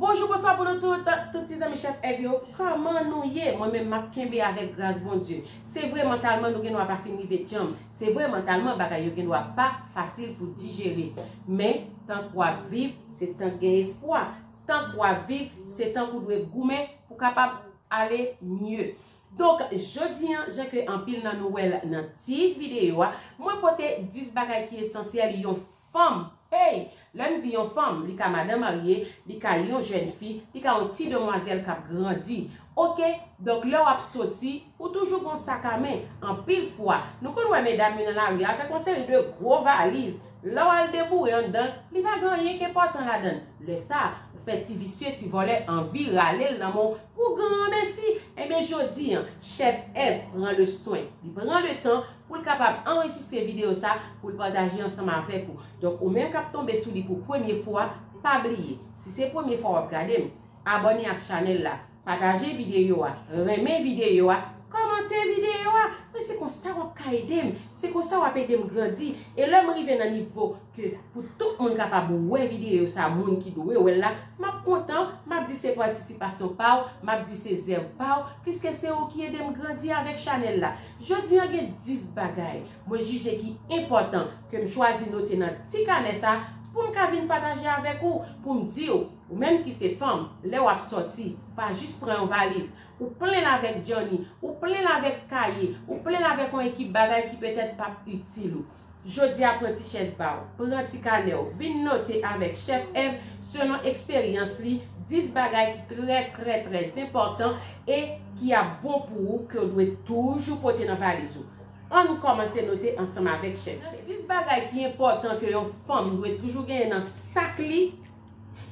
Bonjou bonswa pou nou tout, tout ti zanmi chèf èg yo, kòman nou ye? Mwen menm m ap kenbe avèk gras Bondye. Se vre mantalman nou gendwa pa fin rive djanm, se vre mantalman bagay yo gendwa pa fasil pou dijere. Men, tank w ap viv, se tank gen espwa. Tank w ap viv, se tank ou dwe goumen pou kapab ale mye. Donk jodi an jan ke anpil nan nou wèl nan tit video a, mwen pote 10 bagay ki esansyèl yon fanm, hey! lèm di yon fanm, li ka madan marye, li ka yon jèn fi, li ka yon ti demwazèl kap grandi ok, donk lè wap soti ou toujou gon sak a men, anpil fwa nou konn wè medam yo nan lari avèk yon seri de gwo valiz, lè wal deboure anndanl li pa gen anyen ki enpòtan ladann, lè sa ou fè ti visye ti vòlè anvi ralel nan menw Pou granmesi! Enben jodi an, chèf Èv pran le swen, li pran le tan pou l kapab anrejistre videyo sa pou l pataje ansanm avèk ou. Donk ou menm k ap tonbe sou li pou premye fwa, pa bliye, si se premye fwa w ap gade m, abòne ak chanèl la, pataje videyo a, renmen videyo a, kòmante videyo a! Men se konsa w ap ka ede m, se konsa w ap ede m grandi e lè m rive nan nivo ke pou tout moun kapab wè videyo sa moun ki dwe wèl la, map kontan, map di se patisipasyon paw, map di se zèv paw, pliske se ou ki edem grandi avèk chanèl la. Jodi an gen 10 bagay mwen jije ki enpòtan kem chwazi note nan ti kanè sa poum ka vin pataje avèk ou, poum diw ou menm ki se fanm lè wap sòti pa jis pran yon valiz ou plenl avèk djanni, ou plenl avèk kaye, ou plenl avèk yon ekip bagay ki petèt pap itil ou. Jodi a pran ti chèz pa w, pran ti kanè w, vin note avèk chèf Èv selon eksperyans li 10 bagay ki trè trè trè enpòtan e ki ap bon pou ou ke w dwe toujou pote nan valiz ou. Ann kòmanse note ansanm avèk chèf Èv. Nan 10 bagay ki enpòtan ke yon fanm dwe toujou genyen nan sak li,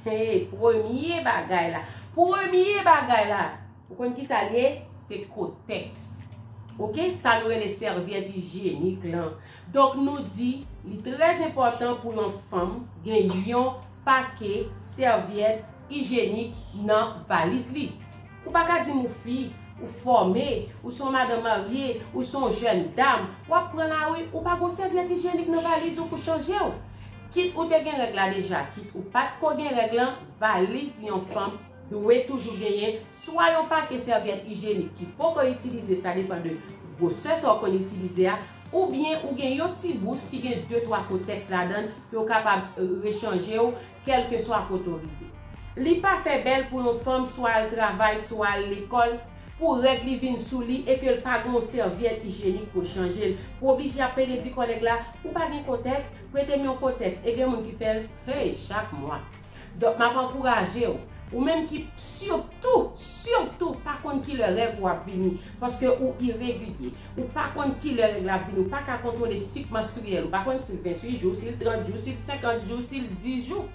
hee premye bagay la, premye bagay la! Ou konn kisa l ye? Se kotèks. Ok, sa nou rele sèvyèt ijyenik lan. Donk nou di li trè enpòtan pou yon fanm gen yon pake sèvyèt ijyenik nan valiz li. Ou pa ka di m ou fi, ou fòme, ou se yon madan marye, ou se yon jèn dam, w ap pran lari, ou pa gen yon sèvyèt ijyenik nan valiz ou pou chanje w. Kit ou te gen règ la deja, kit ou pa t ko gen règ lan, valiz yon fanm, Dwe toujou genyen swa yon pake sèvyèt ijyenik ki poko itilize sa depan de gwosè sa w konn itilize a oubyen ou gen yon ti bous ki gen de twa kotèks ladan ke w kapab rechanje w kèlkeswa kote w rive. Li pa fè bèl pou yon fanm swa al travay swa al lekòl pou règ li vin sou li e ke l pa gen yon sèvyèt ijyenik pou l chanje l pou oblije ap pede di kòlèg la ou pa gen kotèks, prete m yon kotèks e gen moun ki fè l hey chak mwa. Donk map ankouraje w, ou menm ki sitou, sitou pa konn kilè règ ou ap vini, paske ou iregilye, ou pa konn kilè règ la ap vini, ou pa ka kontwole sik manstriyèl ou, ou pa konn si l 28 jou, si l 30 jou, si l 50 jou, si l 10 jou,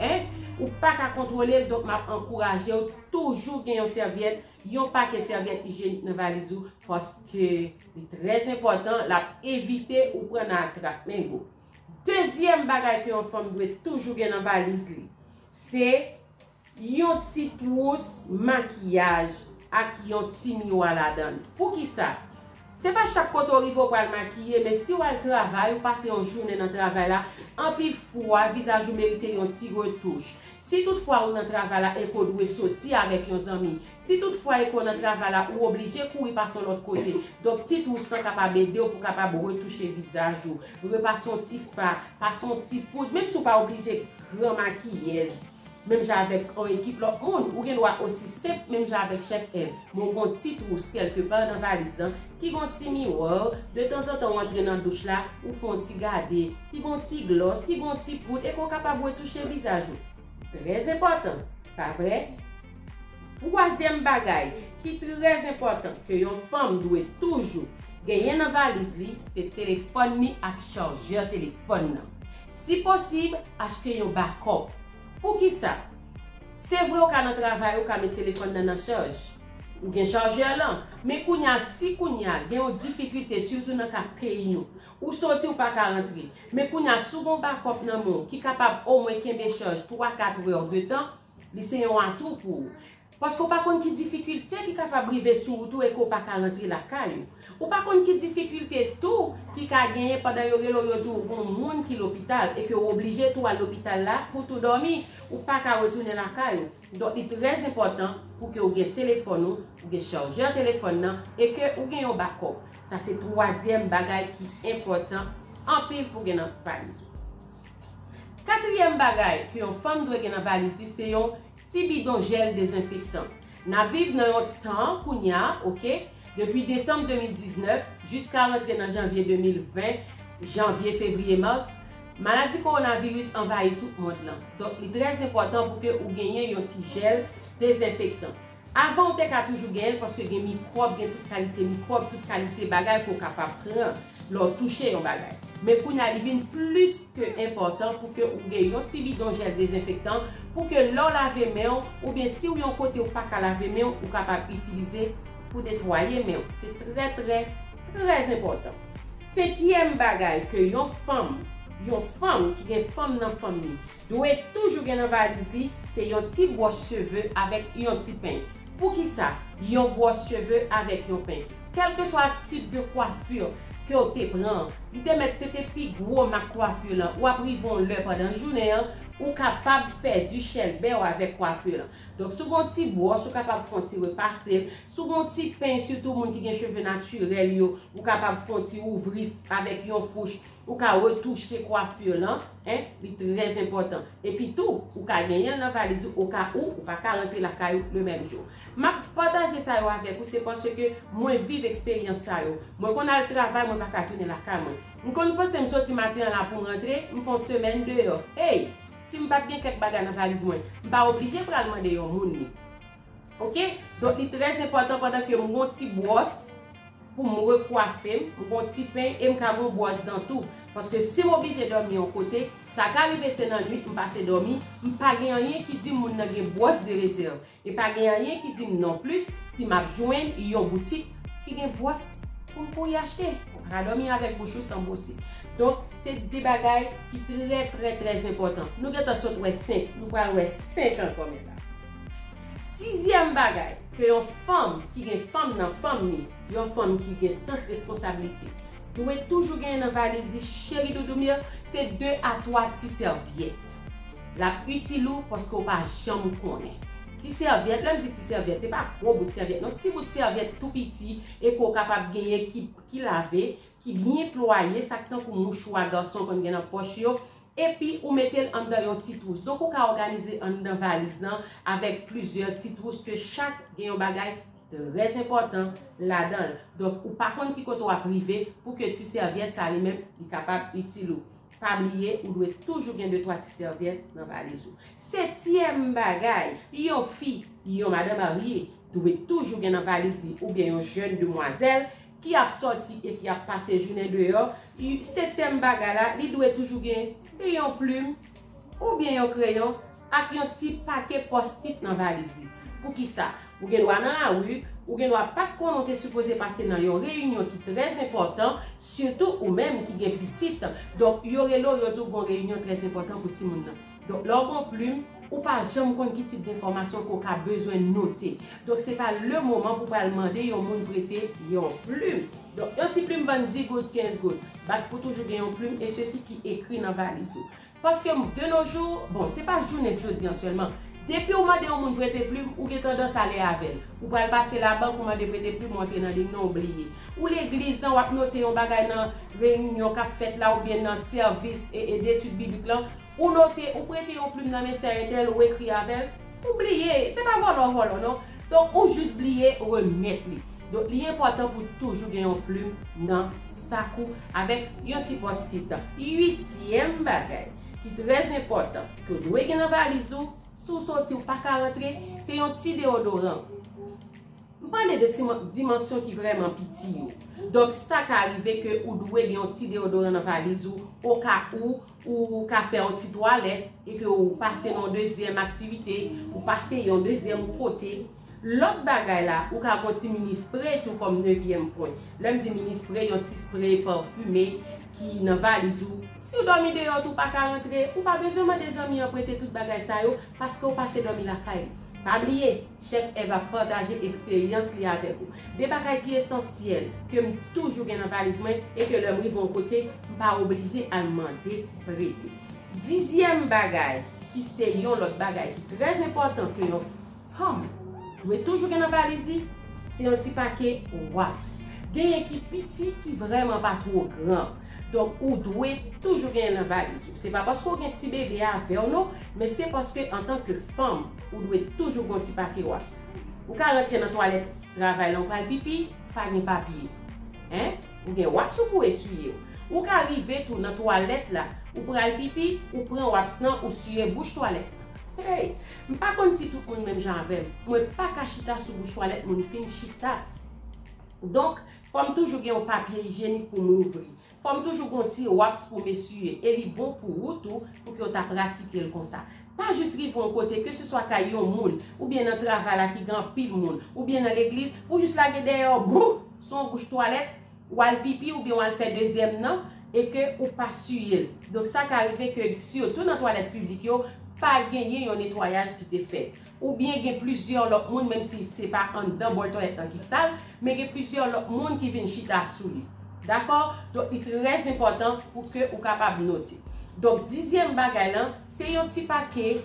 en, ou pa ka kontwole l, donk map ankouraje w toujou gen yon sèvyèt, yon pakèt sèvyèt ijyenik nan valiz ou, paske li trèzenpòtan, lap evite ou pran nan atrap mengo. Dezyèm bagay ke yon fanm dwe toujou gen nan valiz li, se yon ti twous makiyaj ak yon ti miwa ladan. Poukisa? Se pa chak kote ou rive ou pral makiye, men si ou al travay, ou pase yon jounen nan travay la, anpil fwa vizaj ou merite yon ti retouch. Si tout fwa ou nan travay la e ke ou dwe soti avèk yon zanmi, Si tout fwa e ke w nan travay la ou oblije kouri pase yon lòt kote, donk ti twous lan kapab ede w pou kapab retouche vizaj ou, repase yon ti fa, pase yon ti poud, menm si ou pa oblije gran makiyèz menm jan avèk yon ekip lòt moun, ou gen dwa osi senp menm jan avèk chèf Èv, men w gen yon ti twous kèlke pa nan valiz lan ki gen yon ti miwò, detanzantan ou antre nan douch la, ou fè yon ti gade, ki gen yon ti glòs, ki gen yon ti poud e ke w kapab retouche vizaj ou. Trèzenpòtan, pa vre? Twazyèm bagay ki trè enpòtan ke yon fanm dwe toujou genyen nan valiz li se telefòn ni ak chargeur telefòn nan. Si posib, achte yon backup. Poukisa? Se vre ou ka nan travay ou ka met telefòn nan nan chaj. Ou gen chargeur lan. Men kounya si kounya gen yon difikilte sitou nan ka peyi nou. Ou soti ou pa ka rantre. Men kounya si w gen yon backup nan men w ki kapab omwen kenbe chaj 3, 4 heure de tan, Li se yon atou pou ou. Paske ou pa konn ki difikilte ki kapab rive sou ou tou e ke ou pa ka rantre lakay ou. Ou pa konn ki difikilte tou ki ka genyen pandan yo rele ou yo di ou gon moun ki lopital e ke ou oblije tou al lopital la pou tou dòmi, ou pa ka retounen lakay ou. Donk li trè zenpòtan pou ke ou gen telefòn ou, ou gen chargeur telefòn nan e ke ou gen yon bakòp. Sa se twazyèm bagay ki enpòtan anpil pou gen nan valiz ou. Katriyèm bagay ke yon fanm dwe gen nan valiz li se yon ti bidon jèl dezenfektan. Nap viv nan yon tan kounya ok depi desanm 2019 jiska rantre nan janvye 2020 janvye fevriye mars maladi kowonaviris anvayi tout mond lan donk li trè zenpòtan pou ke ou genyen yon ti jèl dezenfektan. Avan ou te ka toujou gen l paske gen mikwòb, gen tout kalite mikwòb, tout kalite bagay ke w kapab pran lè w touche yon bagay. Men kounye a li vin plis ke enpòtan pou ke ou gen yon ti bidon jèl dezenfektan pou ke lè w lave men w oubyen si w yon kote ou pa ka lave men w ou kapab itilize pou netwaye men w. Se trè trè trè enpòtan. Senkyèm bagay ke yon fanm, yon fanm ki gen fanm nan fanm li, Dwe toujou gen nan valiz li se yon ti bwòch cheve avèk yon ti peny. Poukisa yon bwòch cheve avèk yon peny? Kèlkeswa tip de coiffure ke w te pran an, li te mèt se te pi gwo mak coiffure lan, wap rive yon lè pandan jounen an, ou kapab pèdi chèlbè w avèk coiffure lan. Donk si w gen yon ti bwòch ou kapab fè yon ti repase l, si w gen yon ti peny sitou moun ki gen cheve naturel yo, ou kapab fè yon ti ouvri avèk yon fouch. Ou ka retouche coiffure lan en li trè enpòtan. Epi tou ou ka genyen l nan valiz ou o ka ou ou pa ka rantre lakay ou le menm jou. Map pataje sa yo avèk ou se paske mwen viv eksperyans sa yo. Mwen konn al travay mwen pa ka tounen lakay mwen. M konn panse m soti maten an la pou m rantre, m fon semèn deyò. Ey! Si m pat gen kèk bagay nan valiz mwen, m pa oblije pral mande yon moun li. Ok donk li trè enpòtan pandan ke m gon ti bwòs pou m rekwafe m, m gon ti peny e m ka gon bwòs dan tou. Paske si m oblije dòmi yon kote, sa ka rive se nan nwit m pase dòmi, m pa gen anyen ki di m moun nan gen bwòs de rezèv. E pa gen anyen ki di m non plis si m ap jwenn yon boutik ki gen bwòs pou m kouri achte. Ou pa ka dòmi avèk bouch ou san bwose. Donk se 2 bagay ki trè trè trè enpòtan. Nou gentan sot wè 5, nou pral wè 5 ankò mèt la. Sizyèm bagay ke yon fanm ki gen fanm nan fanm ni, yon fanm ki gen sans responsablite, dwe toujou genyen nan valiz li cheri doudoum yo, se 2 a 3 ti sèvyèt. L ap itil ou paske ou pa janm konnen. Ti sèvyèt, lè m di ti sèvyèt, se pa gwo bout sèvyèt non, ti bout sèvyèt tou piti e ke w kapab genyen ki lave, ki byen plwaye, sa k tankou mouchwa gason konn gen nan pòch yo, Epi ou mete l anndan yon ti twous. Donk ou ka òganize anndan valiz lan avèk plizyè ti twous ke chak gen yon bagay trè enpòtan ladan l. Donk ou pa konn ki kote w ap rive pou ke ti sèvyèt sa li menm li kapab itil ou. Pa bliye ou dwe toujou gen de twa ti sèvyèt nan valiz ou. Setyèm bagay, yon fi, yon madan marye dwe toujou gen nan valiz li oubyen yon jèn demwazèl ki ap sòti e ki ap pase jounen deyò, y setyèm bagay la, li dwe toujou gen e yon plim oubyen yon kreyon ak yon ti pake pòstit nan valiz li. Poukisa? Ou gen dwa nan lari, ou gen dwa pa t konnen w te sipoze pase nan yon reyinyon ki trè enpòtan, sitou ou menm ki gen pitit, donk yo rele w yo di w gon reyinyon trè enpòtan pou timoun nan. Donk lè w pran plim, ou pa janm konn ki tip denfòmasyon ke w ka bezwen note. Donk se pa le moman pou w pral mande yon moun prete yon plim. Donk yon ti plim vann 10 goud, 15 goud. Bat pou toujou gen yon plim e sesi ki ekri nan valiz ou. Paske de nos jours, bon se pa jounenk jodi an sèlman, depi w mande yon moun prete plim, ou gen tandans ale avè l. Ou pral pase labank, ou mande prete plim, ou antre nan lim nan, ou bliye. Ou legliz nan, w ap note yon bagay nan reyinyon k ap fèt la oubyen nan sèvis e e detid biblik lan, Ou note, ou prete yon plim nan men sè Enèl, ou ekri avè l, ou bliye. Se pa vòlò w vòlò non. Donk ou jis bliye remèt li. Donk li enpòtan pou w toujou gen yon plim nan sak ou avèk yon ti pòstit. Uityèm bagay ki trè zenpòtan ke w dwe gen nan valiz ou si w soti w pa ka rantre, se yon ti deodoran. M pale de ti dimansyon ki vrèman piti yo. Donk sa ka rive ke ou dwe gen yon ti deodoran nan valiz ou o ka ou Ou ka fè yon ti twalèt epi ou pase nan yon dezyèm aktivite, ou pase yon dezyèm kote. Lòt bagay la, ou ka gen yon ti mini spray tou kòm nevyèm pwen. Lè m di mini spray, yon ti spray pafume ki nan valiz ou. Si ou dòmi deyò tou ou pa ka rantre, ou pa bezwen mande zanmi an prete tout bagay sa yo paske ou pase dòmi lakay ou. Pa bliye! Chèf Èv ap pataje eksperyans li avèk ou. De bagay ki esansyèl ke m toujou gen nan valiz mwen e ke lè m rive yon kote, m pa oblije al mande prete. Dizyèm bagay, ki se yon lòt bagay ki trè enpòtan ke yon fanm dwe toujou gen nan valiz li, se yon ti pake waps. Genyen ki piti, ki vrèman pa two gran. Donk ou dwe toujou genyen nan valiz ou. Se pa paske ou gen ti bebe avè w non, men se paske antanke fanm, Ou dwe toujou gen yon ti papye waps. Ou ka rantre nan twalèt travay lan ou pral pipi, pa gen papye. Hein? Ou gen waps ou pou eswiye yo. Ou ka rive tou nan twalèt la, ou pral pipi, ou pran waps lan ou siye bouch twalèt lan. Hey! M pa konn si tout moun menm jan avè m, mwen pa ka chita sou bouch twalèt moun fin chita. Donk, fò m toujou gen yon papye ijyenik pou m louvri. Fòm toujou gon ti raps pou mesye e li bon pou wou tou pou ke w ta pratikel konsa. Pa jis rive yon kote ke se swa kay yon moun ou byen nan travay la ki gen anpil moun ou byen nan legliz pou jis lage dèyè w bouh sou yon bouch twalèt w al pipi ou byen w al fè dezyèm nan e ke ou pa siye l. Donk sa ka rive ke sitou nan twalèt piblik yo pa genyen yon netwayaj ki te fèt. Ou byen gen plizyè lòt moun, menm si se pa anndan bòl twalet lan ki sal, men gen plizyè lòt moun ki vin chita sou li. Dakò? Donk li trè enpòtan pou ke ou kapab note. Donk dizyèm bagay lan, se yon ti pake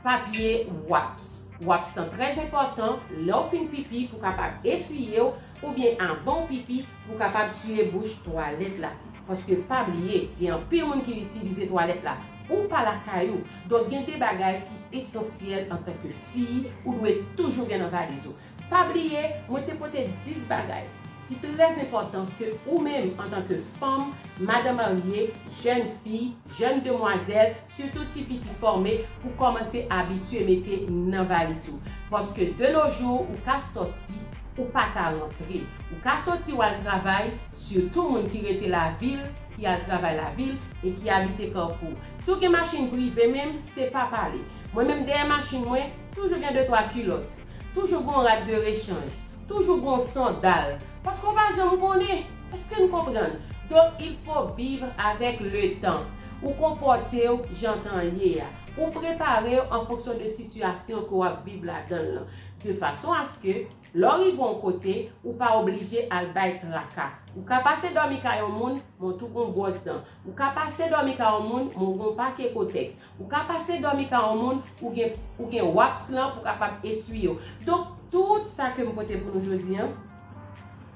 papye waps. Waps lan trè enpòtan, lè w fin pipi pou kapab eswiye w, oubyen avan w pipi, pou w kapab siye bouch twalèt la. Paske pa bliye, gen anpil moun ki itilize twalèt la. Ou pa lakay ou, donk gen de bagay ki esansyèl antanke fi ou dwe toujou gen nan valiz ou. Pa bliye, mwen te pote 10 bagay ki trè enpòtan ke ou menm antanke fanm, madan marye, jèn fi, jèn demwazèl, Sitou ti pitit fòme pou kòmanse abitye mete nan valiz ou. Paske de no jou ou ka sòti, ou pa ka rantre. Ou ka sòti w al travay, sitou moun ki rete lavil, ki al travay lavil e ki abite Kafou. Si w gen machin prive menm, se pa pale. Mwen menm dèyè machin mwen, toujou gen de twa kilòt. Toujou gon rad de rechanj. Toujou gon sondal. Paske w pa janm konnen. Eske n konprann? Donk il fo vivre avèk le tan. Ou konpòte w jan tan an ye a. Ou prepare w an fonksyon de sitiyasyon ke w ap viv ladan l lan. De fason aske, lè w rive yon kote, ou pa oblije al bay traka. Ou ka pase dòmi kay yon moun, men w tou gon bwòs dan. Ou ka pase dòmi ka yon moun, men w gen yon pake kotèks. Ou ka pase dòmi ka yon moun, ou gen ou gen wapps lan pou kapab eswiye w. Donk, tout sa ke m pote pou nou jodi an,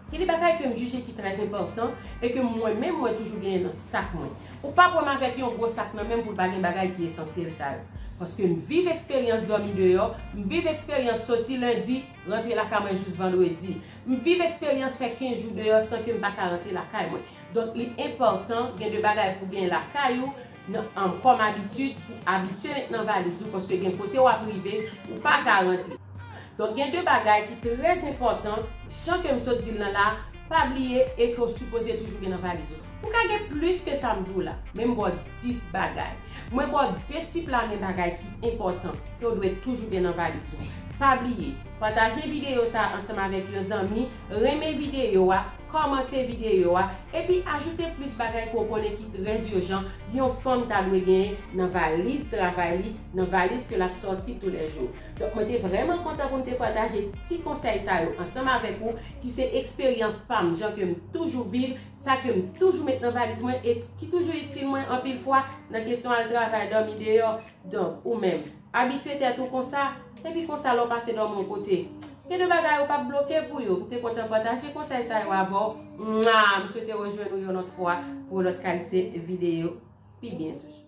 se de bagay ke m jije ki trè enpòtan e ke mwen menm mwen toujou genyen nan sak mwen. Ou p ap wè m avèk yon gwo sak nan men m pou l pa gen bagay ki esansyèl sa yo. Paske m viv eksperyans dòmi deyò, m viv eksperyans soti lendi, rantre lakay mwen jous vandredi. M viv eksperyans fè 15 jou deyò san ke m pa ka rantre lakay mwen. Donk li enpòtan gen de bagay pou gen lakay ou nan kòm abitid pou abitye met nan valiz ou paske gen kote wap rive ou pa garanti. Donk gen de bagay ki trè enpòtan jan ke m sot di l nan la pa bliye e ke w sipoze toujou gen nan valiz ou. Ou ka gen plis ke sa m di w la men m ba w 10 bagay. Mwen ba w 2 ti plamen bagay ki enpòtan ke w dwe toujou gen nan valiz ou. Pa bliye pataje videyo sa ansanm avèk yon zanmi, renmen videyo a, Kòmante videyo a, epi ajoute plis bagay ke w konnen ki trèz urjan yon fanm ta dwe genyen nan valiz travay li, nan valiz ke l ap sòti tou lè jou. Donk mwen te vrèman kontan pou m te pataje ti konsèy sa yo ansanm avèk ou ki se eksperyans pa m, jan ke m toujou viv, sa ke m toujou met nan valiz mwen e ki toujou itil mwen anpil fwa nan kesyon al travay, dòmi deyò. Donk ou menm. Abitye tèt ou konsa, epi konsa lè w pase dòmi yon kote. Gen de bagay ou pap bloke pou yo. M te kontan pataje konsèy sa yo avè w. Mwaa! M swete rejwenn ou yon lòt fwa pou yon lòt kalite videyo pi byen toujou.